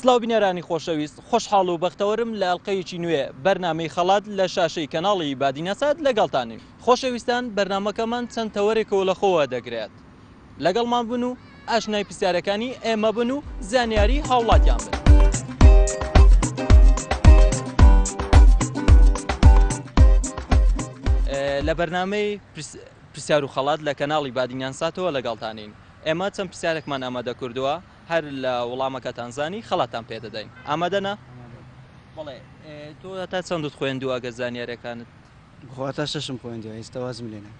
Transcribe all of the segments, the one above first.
سلاو بینەرانی خۆشەویست خۆشحاڵ و بەختەوەرم لە ئەلقەیەکی نوێ بەرنمەی خەڵات لە شاشەی کەناڵی بادینەسات لەگەڵتانی خۆشەویستان بەرنمەکەمان چەند تەوەرێکەوە لە خۆوە دەگرێت. لەگەڵمان بن و ئاشنای پرسیارەکانی ئێمە بن و زانیاری هاوڵاتیان بن. لە بەرنامەی پرسیار و خەڵات لە کەناڵی بادینان ساتەوە لەگەڵتانین ئێمە چەند پرسیارێکمان ئامادە کردووە هەر لە وڵامەکەتان زانی خەڵاتان پێدەدەین ئامادەنا بڵێ تۆ تا چەندت خوێندووە گە زانیارەکانت بخواتە شەشم خوێندوە ئێستاوازم لێنە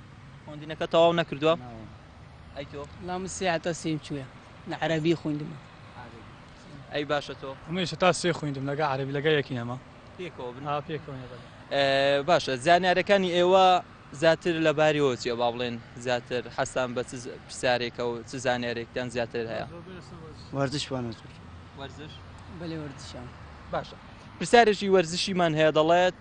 خوندنەکە تەواو نەکردووە ئەی تۆ لا مسێ حتا سێم چووە لە عەرەبی خوندم ئەی باشە تۆ ئەمەیش تا سێ خوندم لەگە عەرەبی لەگە یەکی نەما پێکەوە بن ها پێکەوە نەبەدە. باشە زانیارەکانی ئێوە زیاتر لە باریەوە چیە با بڵێن زیاتر حەسان بە چ پرسیارێکە و چ زانیارێکتان زیاتر هەیە وەرزش وانە زۆر وەرزش بەلێ وەرزشان باشە پرسیارێکی وەرزشیمان هەیە دەڵێت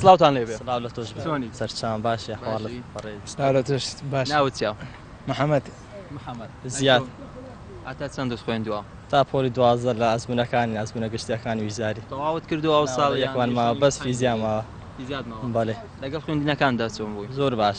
سلااوان لێ سەرچان باشە ناوچیا محەممەد محەممەد زیاد ئاتا چەند دەست خوێندووە تا پۆلی دوازە لە ئەزمونونەکانی ئەزمونە گشتەکانی ویزاری تەواوت کردو ئەو ساڵ یەکوانماوە بەس فیزیاماوە بەێ لەگەڵ خوێندنەکاندا چۆن بووی زۆر باش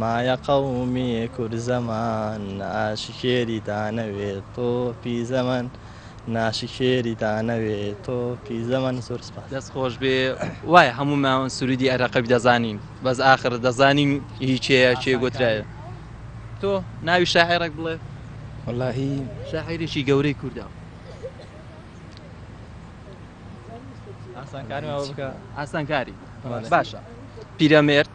مایە قەومی کورد زەمان ناشکێری دانەوێ تۆپی زەمەن ناشکێری دانەوێ تۆپی زەمەن زۆر سپاس. دەست خۆش بێ وایە هەموومان سرودی ئەرەقەب دەزانین بەس ئاخر دەزانین هی کێیە کێ گوترایە تۆ ناوی شاعێرەک بڵێ وەلاهی شاعێرێکی گەورەی کوردە ئاسانکاری ئاسانکاری باشە پیرەمێرد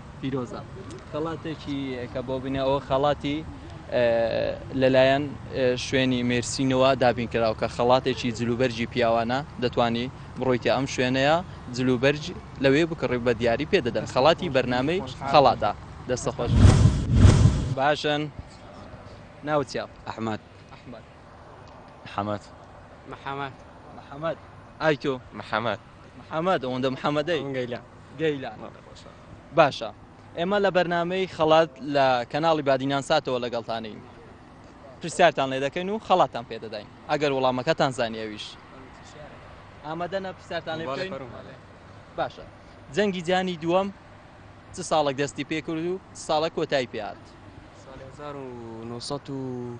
پیرۆزە خەڵاتێکی کە بۆ بنەوە خەڵاتی لەلایەن شوێنی مێرسینەوە دابین کراوە کە خەڵاتێکی جلوبەرجی پیاوانە دەتوانی بڕۆیتە ئەم شوێنەیە جلوبەرج لەوێ بکڕی بە دیاری پێ دەدەن خەڵاتی بەرنمەی خەڵاتە دەستە خۆش باشن ناوچیا ئەحمد ئەحمد حەمەت محەمەد محەمەد ئای تۆ محەمەد محەمەد ئەوەندە محەمەدەی گەیلە گەیلان باشە ئێمە لە بەرنمەی خەڵات لە کەناڵی بادینان ساتەوە لەگەڵتانین پرسیارتان لێ دەکەین و خەڵاتان پێدەداین ئەگەر وڵامەکەتان زانیەویش ئامادەە پرسیارتان لێ بکەین باشە جەنگی جانی دووەم چ ساڵێک دەستی پێ کرد و ساڵە کۆتای پێات 1970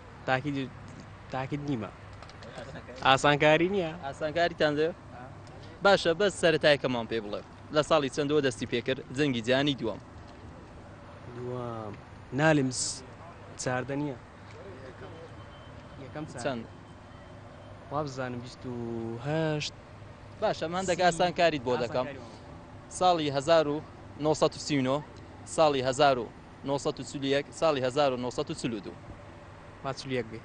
تاکید تاکید نیمە ئاسانکاری نییە ئاسانکاریتان دێ باشە بەس سەرتایکەمان پێ بڵێ لە ساڵی چەندەوە دەستی پێکرد جەنگی جیانی دووەم دوام نالم چاردە نییە یەکەم چەند وابزانم 28 باشە من دەگە ئاسانکاریت بۆ دەکەم ساڵی 1939 ساڵی 1970 نۆ سەد و چل و یەک ساڵی هەزار و نۆ سەد و چل و دوو. با چل و یەک بێ.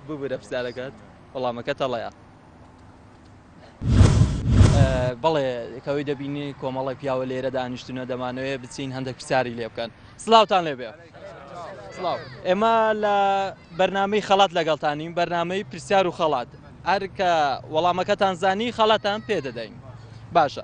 ببورە پرسیارەکەت وەڵامەکە تەڵەیە. بەڵێ کەوەی دەبینی کۆمەڵی پیاوە لێرە دانیشتونە دەمانەوەێ بچین هەندێک پرسیاری لێ بکەن سلااوان لێ بێ ئێمە لە بەرنمەی خەڵات لەگەڵتانین بەرنمەی پرسیار و خەڵات ئەرکە وەڵامەکەتان زانی خەڵاتان پێ دەدەین باشە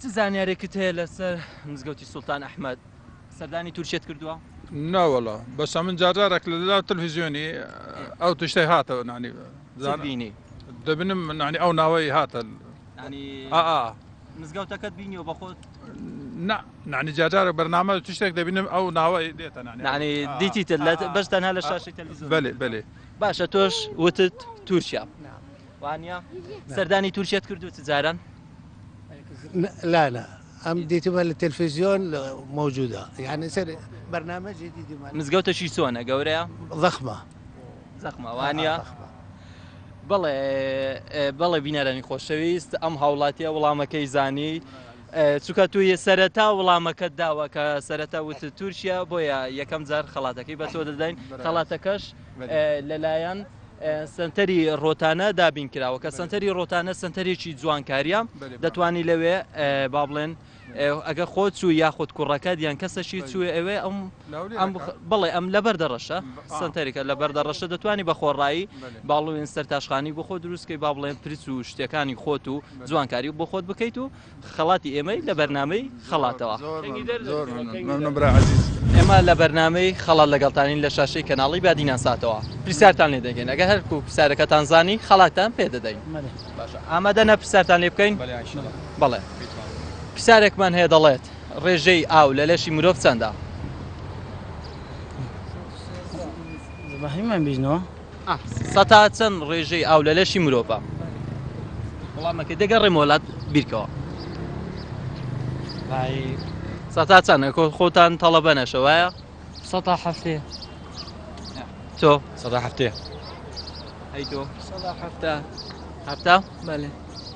چ زانیارێکت هەیە لەسەر مزگەوتی سوڵتان ئەحمەد سەردانی تورکیەت کردووە؟ ناوەڵا بەس من جارجارێک لە لەلا تەلویزیۆنی ئەو تشتەی هاتەوە نانی زانینی دەبنم نانی ئەو ناوەی هاتە مزگەوتەکەت بینیەوە بەخۆت نانی جارجارە بەرنامە تشتێک دەبینم ئەو ناوەی دێتە نانی دیتی بەس تەنها لە شاشی تەلویزیۆن بەێ بەێ باشە تۆش وتت تورکیا وانە سەردانی تورکیت کردو جاران لالا ئەم دیتمە لە تەلفزیۆن مەوجودا یعنی سەر بەرنمەجی دیتمە مزگەوتەشی سۆنە گەورەیە زەخمە زەخمەوانە بەڵێ بەڵێ بینەرانی خۆشەویست ئەم هاوڵاتیە وڵامەکەی زانی چکە تو یە سەرەتا وڵامەکەت داوە کە سەرەتا وت تورکیا بۆیە یەکەم جار خەڵاتەکەی بە تۆ دەدەین خەڵاتەکەش لەلایەن سەنتەری ڕۆتانە دابین کراوە کە سەنتەری ڕۆتانە سەنتەرێکی جوانکاریە دەتوانانی لەوێ با بڵێن ئەگە خۆت و یاخود کوڕەکە دیان کەسەشی چوێ ئەوێ ئەم بڵێ ئەم لە بەردە ڕەشە سنتەرێکە لە بەردە ڕەشە دەتوانانی بە خۆڕایی باڵوێن سەر تاشخانی بۆ خۆ دروستکەی با بڵێن پرس و شتەکانی خۆت و جوانکاری بۆ خۆت بکەیت و خەڵاتی ئێمەی لە بەرنامەی خەڵاتەوە ئێمە لە بەرنامەی خەڵات لەگەڵتانین لە شاشەی کەناڵی بادینان ساتەوە پرسیارتان لێ دەگەین ئەگە هەرکو پرسیارەکەتان زانی خەڵاتان پێ دەدەین ئامادە نە پرسیارتان لێ بکەین بەڵێ پرسیارێکمان هەیە دەڵێت ڕێژەی ئاو لە لەشی مرۆڤ چەندە زماهیمان بیژنەوە سەتا چەند ڕێژەی ئاو لە لەشی مرۆڤە؟ وڵامەکەی دەگەڕێمە وڵات بیرکەوە. سەتا چەند خۆتان تەڵەبە نەشە وایە؟ سەتا هەفتێ تۆ سەدا هەفتێ ئەی تۆ سەدا هەفتە هەفتە بەێ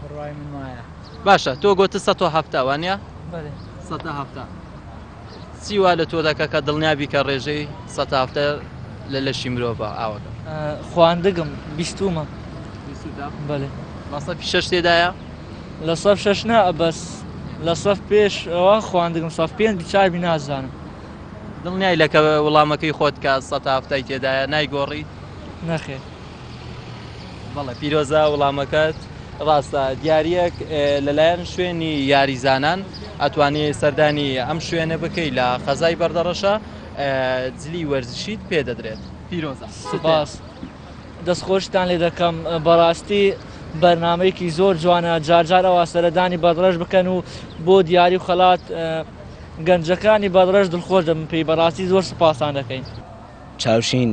بڕوای من وایە باشە تۆ گۆتە سە تۆ هەفتە وانە سەتە هەفتە سیوا لە تۆ دەکە کە دڵنیابی کە ڕێژەی سە هەفتە لە لەشی مرۆڤە ئاوەکە خواندگم بیستومە بەێ مەسە شش تێدایە لە سەف شش نا بەس لە سەف پێش ئەوە خواندگم سەف پێنج چاوی نازانم دڵنیای لەکە وڵامەکەی خۆت کە سە هەفتای تێدایە نایگۆڕی نەخێت بەڵێ پیرۆزە وڵامەکەت ڕاستە دیارەک لەلایەن شوێنی یاریزانان ئەتوانی سەردانی ئەم شوێنە بکەی لە خەزای بەردەڕەشە جلی وەرزشیت پێدەدرێت پیرۆزە سوپاس دەستخۆشتان لێ دەکەم بەڕاستی بەرنمەیەکی زۆر جوانە جارجار ئەوە سەردانی بەدڕەش بکەن و بۆ دیاری و خەلات گەنجەکانی بەدڕەش دڵخۆش دەبن پێی بەڕاستی زۆر سوپاسان دەکەین چاوشین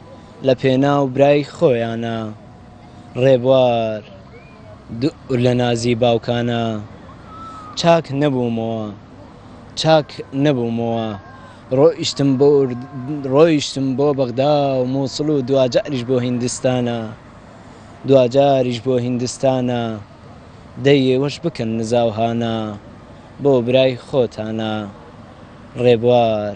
لە پێناو برای خۆیانە ڕێبوار دوور لە نازی باوکانە چاک نەبوومەوە چاک نەبوومەوە ڕۆیشتم بۆ ڕۆیشتم بۆ بەغدا و مووسڵ و دواجاریش بۆ هیندستانە دواجاریش بۆ هیندستانە دەی ئێوەش بکەن نزا و هانا بۆ برای خۆتانە ڕێبوار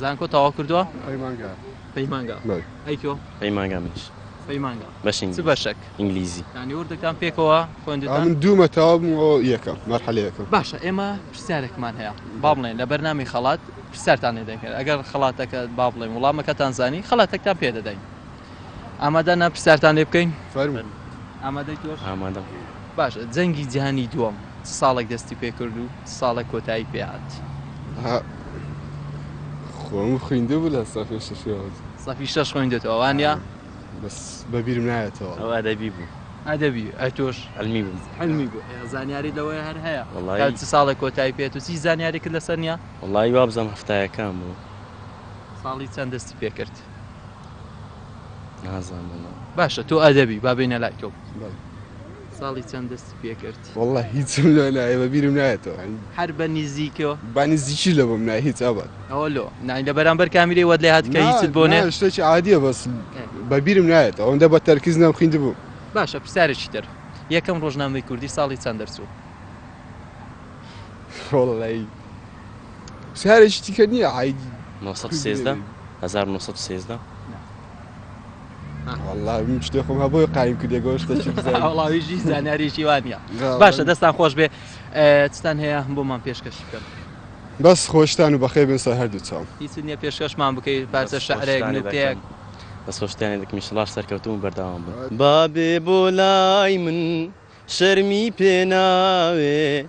زانکۆ تەواو کردووە؟ پەیمانگا پەیمانگا بەڵێ ئەی تۆ؟ پەیمانگا منیش پەیمانگا بەشی ئینگلیزی چ بەشەک؟ ئینگلیزی یانی وردەکان پێکەوە خوێندووتان؟ من دوومە تەواو بووم ئەوە یەکەم مەرحەلە یەکەم. باشە ئێمە پرسیارێکمان هەیە با بڵێن لە بەرنامەی خەڵات پرسیارتان لێ دەکەین ئەگەر خەڵاتەکە با بڵێن وڵامەکەتان زانی خەڵاتەکتان پێ دەدەین. ئامادەن پرسیارتان لێ بکەین؟ فەرموو. ئامادەی تۆش؟ ئامادەم. باشە جەنگی جیهانی دووەم چ ساڵێک دەستی پێ کرد و چ ساڵێک کۆتایی پێ هات؟ ها خۆم خویندوو بوو لە سەفی شەشەوە. سەفی شەش خویندووتەوە وانیە؟ بەس بە بیرم نایەتەوە. ئەو ئەدەبی بوو. ئەدەبی، ئەی تۆش؟ عیلمی بوو. عیلمی بوو، ئێ زانیاریت لەوەیە هەر هەیە. وەڵایی. کە چ ساڵێک کۆتایی پێ هات و هیچ زانیاریکت لەسەر نیە؟ وەڵایی وابزانم هەفتایەکان بوو. ساڵی چەند دەستی پێ کرد؟ باشە تۆ ئەدەبی با بینە لای تۆ ساڵی چەند دەستی پێکرد والله هیچ نایە بە بیرم نایەتەوە هەر بە نزیکەوە بانی زیکی لە بم نای هیچ ئەبات ئەوە لۆ نای لە بەرامبەر کامیری وەد لێ هات کە هیچ بۆ نێ شتێکی عادیە بەس بە بیرم نایەت ئەوەندە بە تەرکیز نام خویند بوو باشە پرسیارێکی تر یەکەم ڕۆژنامەی کوردی ساڵی چەند دەرچوو والله شارێکی دیکە نییە عایدی نۆ سەد و سێزدە هەزار و نۆ سەد و سێزدە والله من شتێ خۆم هەبووی قایم کردێ گۆشتەکی بزانم. وڵاویژی زانیاریشی وانە جا باشە من- دەستان خۆش بێ ئە، چتان هەیە بۆمان پێشکەش بکەن بەس خۆشتان و بەخێر بێن سەر هەردوو چاوم. هیچت نییە پێشکەشمان بکەی پارچە شعرێک دەستخۆشتانێ نوکتەیەک دەکەم. دەستخۆشتانێ دەکەم ئیشەڵاش سەرکەوتوو بن بەردەوام بن. بابێ بۆ لای من شەرمی پێ ناوێ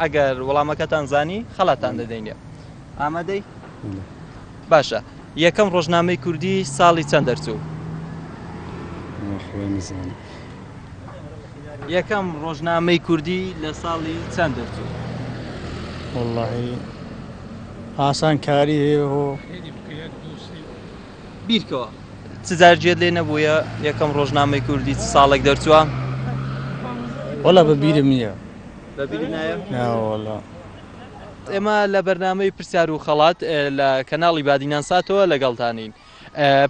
ئەگەر وەڵامەکەتان زانی خەڵاتان دەدەینێ. ئامادەی؟ باشە یەکەم ڕۆژنامەی کوردی ساڵی چەند دەرچوو؟ خوای نزان. یەکەم ڕۆژنامەی کوردی لە ساڵی چەند دەرچوو؟ واللهی ئاسان کاری هەیەهۆ. بیرکەوە چجار گوێت لێ نەبووە یەکەم ڕۆژنامەی کوردی چ ساڵێک دەرچووە؟ وەڵا بە بیرم نییە. ئێمە لە بەرنامەی پرسیار و خەڵات لە کەناڵی بادینان ساتەوە لەگەڵتانین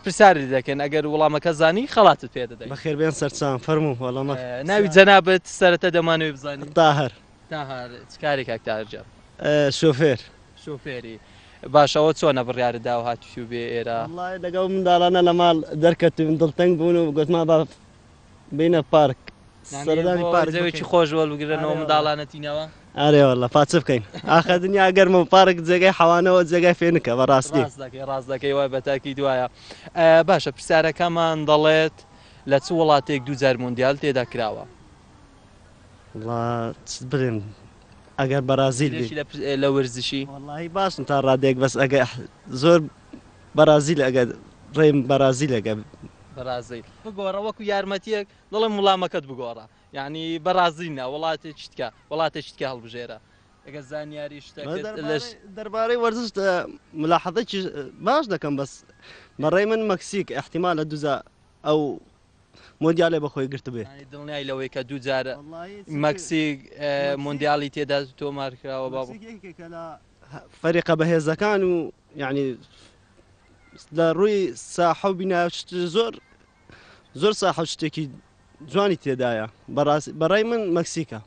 پرسیارت دەکەن ئەگەر وڵامەکە زانی خەڵاتت پێ دەدەین بەخێربێن سەرچان فەرموو وەڵامە ناوی جەنابەت سەرەتا دەمانەوەی بزانین تاهر تاهر چ کارێک کاک تاهر جان شوفێر شوفێری باشەوە چۆنە بڕیارت دا و هاتووی بێ ئێرە وەڵڵاهی لەگەڵ منداڵانە لە ماڵ دەرکەتووین دڵتەنگ بوون و گوتمان با بینە پارک سەردانی پارک زەوێکی خۆش وەربگرنەوە منداڵانە تینەوە ئارێ والله پاچ بکەین ئاخە دنیا گەرمە و پارک جێگای حەوانەوە جێگای فێنکە بە ڕاستی ڕاست دەکەی ڕاست دەکەی وای بە تاکی دوایە ئە، باشە پرسیارەکەمان دەڵێت لە چ وڵاتێک دووجار مۆندیال تێدا کراوە والله چ برێن ئەگەر بەرازیل بێت. لێشی لە پر- لە ورزشی وەڵاهی باشم تا ڕادێک بەس ئەگە زۆر بەڕازیل ئەگەر ڕێم بەڕازیل ئەگەر. بەڕازیل بگۆڕە وەکو یارمەتیەک دڵم وڵامەکەت بگۆڕە یانی بەڕازیل نا وڵاتێکی تکە وڵاتێکی تکە هەڵبژێرە ئەگەر زانیاری شتەکەت لەش. دەربارەی وەرزش ملاحەزەیەکی باش دەکەم بەس بەڕای من مەکسیک ئیحتیمالە دووجا ئەو مۆندیالەی بەخۆی گرتبێ. یانی دڵنیای لەوەی کە دوو جار وەڵایی چ مەکسیک مۆندیالی تێدا تۆمارکراوە بابۆ. مەکسیک یەکێکە لە فەریقە بەهێزەکان و یانی لە ڕووی ساحە و بینا زۆر زۆر ساحە شتێکی جوانی تێدایە بەڕای من مەکسیکە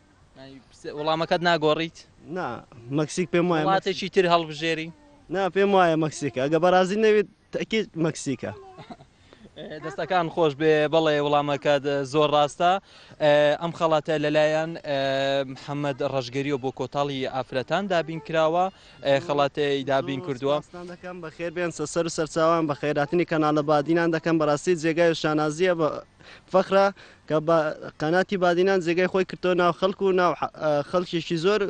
وڵامەکەت ناگۆڕیت نا مەکسیک پێم وایە ماتێکی تر هەڵبژێری نا پێم وایە مەکسیکە ئەگە بەڕازی نەوێت تەکیت مەکسیکە دەستەکان خۆش بێ بەڵێ وڵامەکەت زۆر ڕاستە ئەم خەڵاتە لەلایەن محەممەد ڕژگەریەوە بۆ کۆتاڵی ئافرەتان دابین کراوە خەڵاتی دابین کردووە دەکەم بە خێر بێن سەر سەرچوان بە خێراتنی کەناڵە بادینان دەکەم بەڕاستی جێگای و شانازیە بە فەخرا کە بە قەناتی بادینان جێگای خۆی کردو ناو خەڵکو و ناو خەڵکیشی زۆر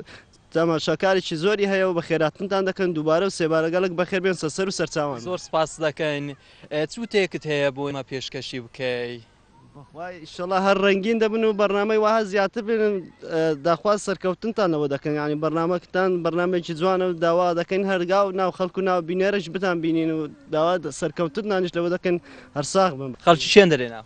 تەماشاکارێکی زۆری هەیە و بەخێرهاتنتان دەکەن دووبارە و سێبارە گەلەک بەخێر بێن سەسەر و سەرچاوان. زۆر سپاست دەکەین چ وتەیەکت هەیە بۆ ئێمە پێشکەشی بکەی؟ بەخوای ئیشەڵا هەر ڕەنگین دەبن و بەرنامەی وەها زیاتر بێنن داخواز سەرکەوتنتان لەوە دەکەن یانی بەرنامەکتان بەرنامەیەکی جوانە و داوا دەکەین هەرگا و ناو خەڵک و ناو بینەرش بتان بینین و داوا سەرکەوتنتانیش لەوە دەکەن هەر ساغ بن. خەڵکی چێندەرێ ناو.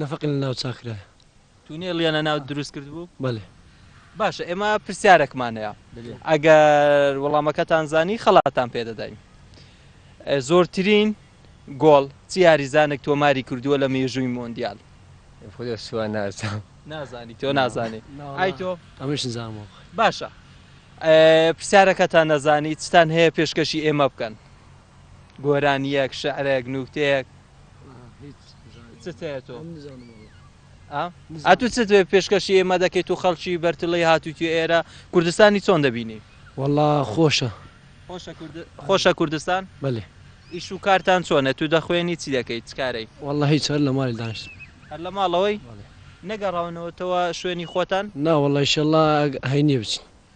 نەفەقی لە ناو چاکرایە. تونێلیان لە ناو دروست کردبوو؟ بەلێ. باشە ئێمە پرسیارەکمان هەیە ئەگەر وەڵامەکەتان زانی خەڵاتان پێدەداین زۆرترین گۆڵ چی یاریزانێک تۆماری کردووە لە مێژووی مۆندیال خودێ سووا نازان نازانی تۆ نازانی ئای تۆ ئەمەش نزانەوە باشە پرسیارەکەتان نەزانی چتان هەیە پێشکەشی ئێمە بکەن گۆرانیەک شعرێک نوکتەیەک ئەتو چ پێشکەشی ئێمە دەکەیت و خەڵکی بەرتلەی هاتووی ئێرە کوردستانی چۆن دەبینی والله خۆشە خۆشە کوردستان بەێ ئیش و کارتان چۆنە تو دەخوێنی چی دەکەیت چکارەی والله هیچ هەر لە مالی داشت هەر لە ماڵەوەی نەگەڕاونەوەتەوە شوێنی خۆتان ناوەڵی شەڵا هەینێ بچین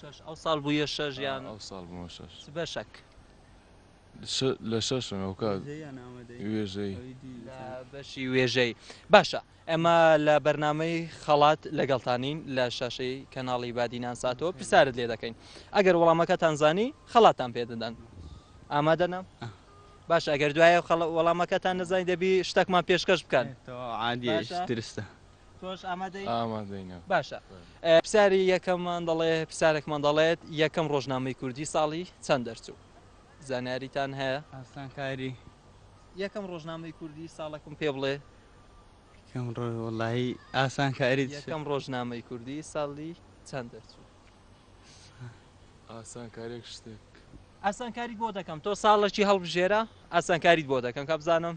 شەش ئەو ساڵ بووە شەژ یان ئەو ساڵ بووە شەش چ بەشەک لە شەشم ئەو کات وێژەی بەشی وێژەی باشە ئەمە لە بەرنمەی خەڵات لەگەڵتانین لە شاشەی کەناڵی بادینان ساتۆ پرسیارت لێ دەکەین ئەگەر وەڵامەکە تانزانی خەڵاتان پێدەدەن ئامادەنا باش ئەگەر دوایە وەڵامەکەتان نزای دەبی شتەکمان پێشکەش بکەن عادیترستە تۆش ئامادەی؟ ئامادەینە. باشە پرسیاری یەکەممان دەڵێ پرسیارێکمان دەڵێت یەکەم ڕۆژنامەی کوردی ساڵی چەند دەرچوو؟ زانیاریتان هەیە؟ ئاسانکاری. یەکەم ڕۆژنامەی کوردی ساڵەکم پێ بڵێ؟ یەکەم ڕۆژ وەڵاهی ئاسانکاری یەکەم ڕۆژنامەی کوردی ساڵی چەند دەرچوو؟ ئاسانکارێک شتێک. ئاسانکاریت بۆ دەکەم تۆ ساڵەکی هەڵبژێرە ئاسانکاریت بۆ دەکەم کابزانم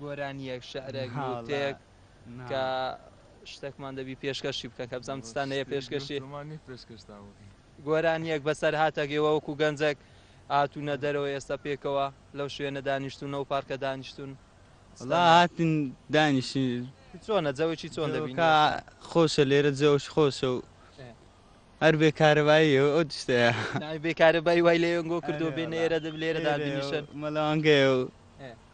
گۆرانیەک، شعرێک، نوکتەیەک کە شتێکمان دەبی پێشکەشی بکەن کە بزانم چتان هەیە پێشکەشی گۆرانیەک بەسەر هاتەگەوە وەکو گەنجێک هاتوونە دەرەوە ئێستا پێکەوە لەو شوێنە دانیشتون و پارکە دانیشتون هاتن دانیشتن چۆنە جەوەکی چۆن دەبین خۆشە لێرە جەوەش خۆشە و هەر بێ کارەبایی ئەو ئەو تشتەیە. ناوی بێ کارەبایی وای لە یۆنگۆ کردووە بێنە ئێرە دەب لێرە دابنیشن. مەلەوانگەیە و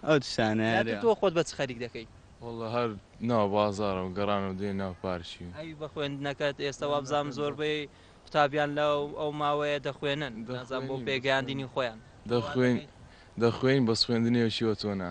ئەو تشتانە. جا تۆ خۆت بە چ خەریک دەکەی؟ وەڵڵە هەر ناو بازاڕم گەڕامەوە دێ ناو پارکی. ئەی بە خوێندنەکەت ئێستە وابزانم زۆربەی قوتابیان لە ئەو ماوەیە دەخوێنن نازانم بۆ پێگەیاندنی خۆیان. دەخوێین دەخوێین بەس خوێندنی ئەو شێوە تۆ نا.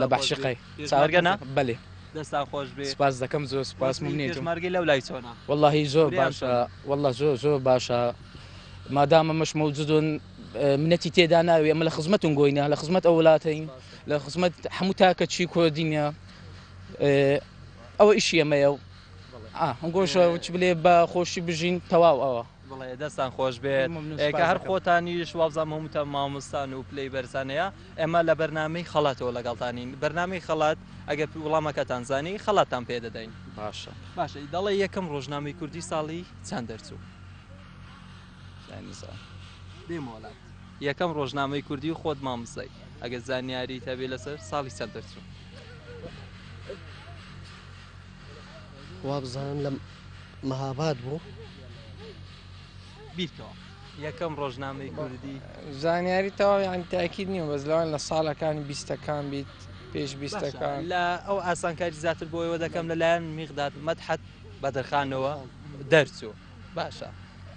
لە بەعشقی چاوەرگە نا بەلێ دەستان خۆش بێ سپاس دەکەم زۆر سپاس ممنێژمارگی لەو لای چۆنا واللهی زۆر باشە والله زۆر زۆر باشە مادامە مەش مەوجودون منەتی تێدا ناوێ ئەمە لە خزمەتون گۆینە لە خزمەت ئەو وڵاتین لە خزمەت هەموو تاکە چی کۆدینە ئەوە ئیشی ئەمەیە و هەنگۆشە چ بلێ بە خۆشی بژین تەواو ئەوە بڵێ دەستان خۆش بێت کە هەر خۆتانیش وابزانام هەمووتان مامۆستان و پلەی بەرزانەیە ئێمە لە بەرنامەی خەڵاتەوە لەگەڵتانین بەرنامەی خەڵات ئەگەر وڵامەکەتان زانی خەڵاتتان پێ دەدەین. باشە. باشە ی دەڵێ یەکەم ڕۆژنامەی کوردی ساڵی چەند دەرچوو؟ نایمزان. بێ مۆڵەت. یەکەم ڕۆژنامەی کوردی و خۆت مامزای ئەگەر زانیاریت هەبێ لەسەر ساڵی چەند دەرچوو؟ وابزانم لە مەهاباد بوو. بیرکەوە. یەکەم ڕۆژنامەی کوردی زانیاری تەواو یان تاکیید نییە بەس لەوان لە ساڵەکانی بیستەکان بیت پێش بیستەکان لە ئەو ئاسانکاری زیاتر بۆیەوە دەکەم لەلایەن میغداد مەدحەت بەدرخانەوە دەرچوو باشە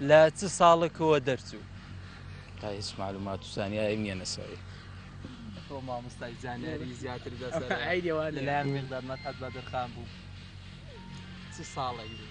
لە چ ساڵکەوە دەرچوو تا هیچ معلومات و زانیاری نییە نەسەری تۆ مامۆستای زانیاری زیاتر دەسەر لەلایەن میغداد مەدحەت بەدرخان بوو چ ساڵێک بوو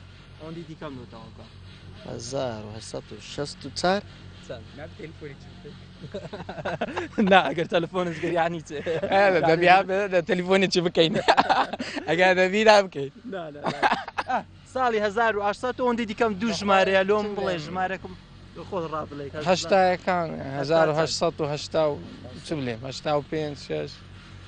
ئەوەندی دیکەم لۆ تەواوکە هەزار و هەشت و شەست و چار نا ئەگەر تەلفۆنت گەریانی چێ دەبیا تەلیفۆنی چی بکەین ئەگەر دەبیرا بکەیت ساڵی 1970 ئەوەندی دیکەم دوو ژمارەیە لۆم بڵێ ژمارەکەم خۆ ڕابلێک هەشتایەکان 1970 چ بلێ هەشتا و پێ شش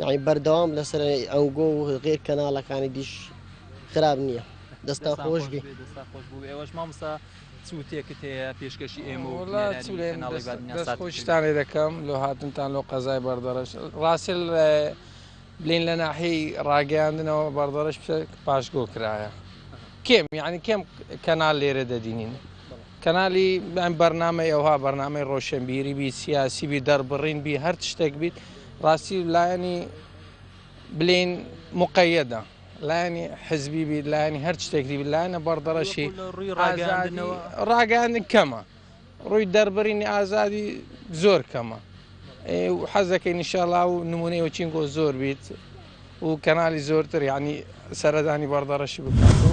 یانی بەردەوام لەسەر ئەنگۆ و غێر کەناڵەکانی دیش خراپ نییە دەستا خۆش بی ئێوەش مامسا سووتێکت هەیە پێشکەشی ئێمە خۆشتانێ دەکەم لۆ هاتنتان لۆ قەزای بەردەڕش ڕاستل بلین لە ناحی ڕاگەیاندنەوە بەردەڕش پاشگۆ کرایە کێم یعنی کێم کەنال لێرە دەدینین کەنالی یان بەرنامەی ئەوها بەرنامەی ڕۆشنبیری بیت سیاسی بی دەربڕین بی هەر شتێک بیت ڕاستی لایەنی بلین مقەیەدە لایەنی حزبی بیت لایەنی هەر شتێکی لایەنە بەڕدەڕەشی ڕاگەاندن کەمە ڕووی دەربڕینی ئازادی زۆر کەمە حەزەکەی نیشاڵا و نمونەی وچینگۆ زۆر بیت و کەنالی زۆرتر یانی سەردانی بەڕدەڕەشی بکات و.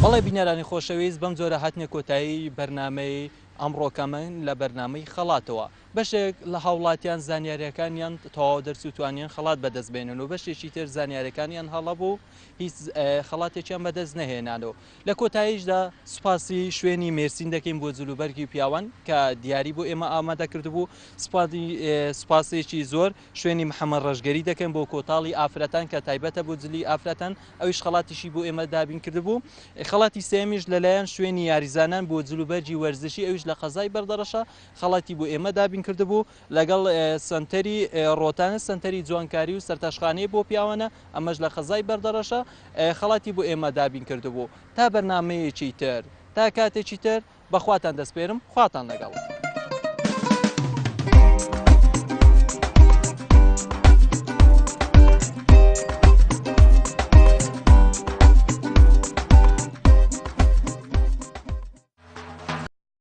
بەڵێ بینەرانی خۆشەویست بەم جۆرە هاتینە کۆتایی بەرنامەی ئەمڕۆکەمان لە بەرنامەی خەڵاتەوە بەشێک لە هاوڵاتیان زانیاریەکانیان تەواو دەرچوو توانیان خەڵات بەدەست بێنن و بەشێکی تر زانیارەکانیان هەڵەبوو هیچ خەڵاتێکیان بەدەست نەهێنان و لە کۆتاییشدا سوپاسی شوێنی مێرسین دەکەین بۆ جلوبەرگی پیاوان کە دیاری بۆ ئێمە ئامادە کردبوو سوپاسی سوپاسێکی زۆر شوێنی محمد ڕەشگەری دەکەین بۆ کۆتاڵی ئافرەتان کە تایبەتە بۆ جلی ئافرەتان ئەویش خەڵاتیشی بۆ ئێمە دابین کردبوو خەڵاتی سێیەمیش لەلایەن شوێنی یاریزانان بۆ جل و بەرگی وەرزشی ئەویش لە قەزای بەردەڕەشە خەڵاتی بۆ ئێمە دابین کردبوو لەگەڵ سەنتەری ڕۆتانە سەنتەری جوانکاری و سەرتاشخانەی بۆ پیاوانە ئەمەش لە قەزای بەردەڕەشە خەڵاتی بۆ ئێمە دابین کردبوو تا بەرنامەیەکی تر تا کاتێکی تر بە خواتان دەسپێرم خواتان لەگەڵ.